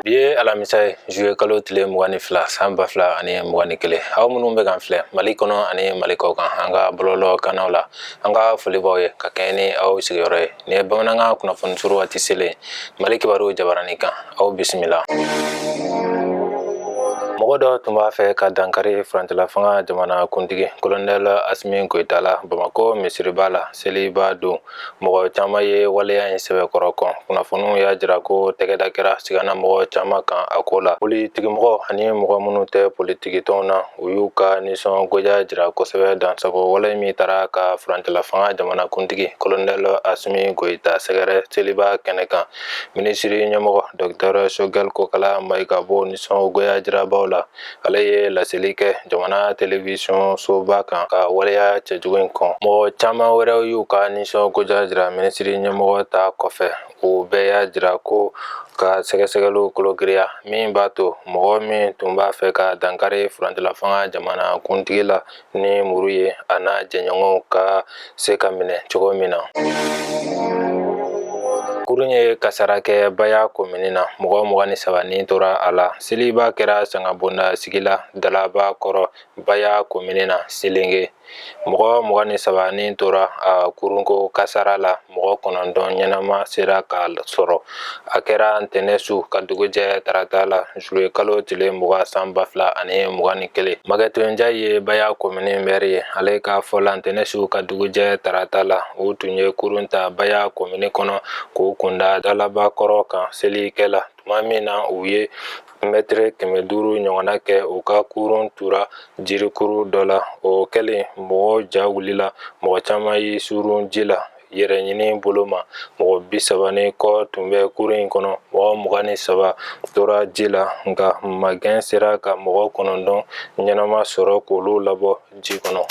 bi ye alamisa ye zuye kalo tile mugan ni fila san ba fila ani mugan ni kelen aw minnu bɛ k'an filɛ mali kɔnɔ ani mali kɔkan an ka bɔlɔlɔ kannaw la an ka foli b'aw ye ka kɛɲɛ ni aw sigiyɔrɔ ye nin ye bamanankan kunnafoni surun waati selen mali kibaruw jabarani kan aw bisimila mɔgɔ dɔ tun b'a fɛ ka dankari furancɛla fanga jamana kuntigi kolonɛl asimi goyita la bamakɔ misiriba la seliba don mɔgɔ caman ye waleya in sɛbɛkɔrɔ kɔn kunnafoniw y'a jira ko tɛgɛda kɛra sigana mɔgɔ caman kan a ko la politikimɔgɔ ani mɔgɔ minnu tɛ politikitɔnw na u y'u ka nisɔngoya jira kosɛbɛ dansago wale min taara ka furancɛlafanga jamanakuntigi kolonɛl asimi goyita sɛgɛrɛ seliba kɛnɛ kan minisiri ɲɛmɔgɔ dɔktɛr sogɛl kokala mayiga b'o nisɔngoya jirabaw la ale ye laseli kɛ jamana telewisɔn soba kan ka waleya cɛjugu in kɔn mɔgɔ caman wɛrɛw y'u ka nisɔngoya jira minisiri ɲɛmɔgɔ ta kɔfɛ u bɛɛ y'a jira ko ka sɛgɛsɛgɛliw kologiriya min b'a to mɔgɔ min tun b'a fɛ ka dankari furancɛlafanga jamana kuntigi la ni muru ye a n'a jɛɲɔgɔnw ka se ka minɛ cogo min na kurun ye kasara kɛ baya komini na mɔgɔ mugan ni saba ni tora a la seliba kɛra sangabonda sigi la dalaba kɔrɔ baya komini na selenge mɔgɔ mugan ni saba ni tora a kurunko kasara la mɔgɔ kɔnɔntɔn ɲɛnama sera ka sɔrɔ a kɛra ntɛnɛn su ka dugu jɛ tarata la zuye kalo tile mugan san ba fila ani mugan ni kelen magɛti njayi ye baya kɔmini mɛri ye ale ka fɔ la ntɛnɛn su ka dugu jɛ tarata la u tun ye kurun ta baya kɔmini kɔnɔ k'u kunda dalabakɔrɔ kan selikɛ la tuma min na u ye mɛtɛrɛ kɛmɛ duuru ɲɔgɔnna kɛ u ka kurun tura jirikuru dɔ la o kɛlen mɔgɔ ja wulila mɔgɔ caman y'u suuru ji la yɛrɛ ɲini bolo ma mɔgɔ bi saba ni kɔ tun bɛ kurun in kɔnɔ mɔgɔ mugan ni saba tora ji la nka magɛn sera ka mɔgɔ kɔnɔntɔn ɲɛnama sɔrɔ k'olu labɔ ji kɔnɔ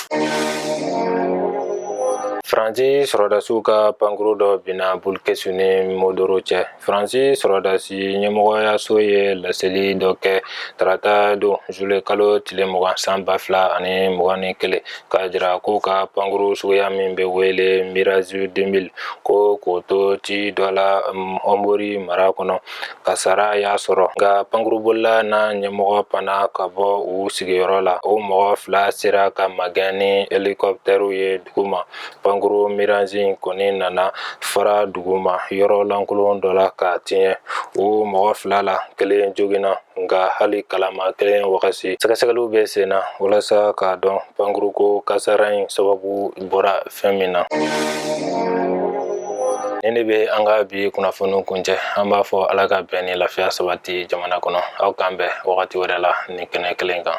faransi sɔrɔdasiw ka pankuru dɔ binna bulkɛsi ni mondoro cɛ faransi sɔrɔdasi ɲɛmɔgɔyaso ye laseli dɔ kɛ tarata don zuye kalo tile mugan san ba fila ani mugan ni kelen k'a jira k'u ka pankuru suguya min bɛ wele mirazi 2000 ko k'o to ci dɔ la ɔnbori mara kɔnɔ kasara y'a sɔrɔ nka pankurubolila n'a ɲɛmɔgɔ panna ka bɔ u sigiyɔrɔ la u mɔgɔ fila sera ka magɛn ni helikɔptɛriw ye duguma pankuru mirazi in kɔni nana fara duguma yɔrɔ lankolon dɔ la ka tiɲɛ u mɔgɔ fila la kelen joginna nka hali kalama kelen wagati sɛgɛsɛgɛliw bɛ sen na walasa k'a dɔn pankuruko kasara in sababu bɔra fɛn min na nin de bɛ an ka bi kunnafoniw kuncɛ an b'a fɔ ala ka bɛn ni lafiya sabati jamana kɔnɔ aw k'an bɛn wagati wɛrɛ la nin kɛnɛ kelen kan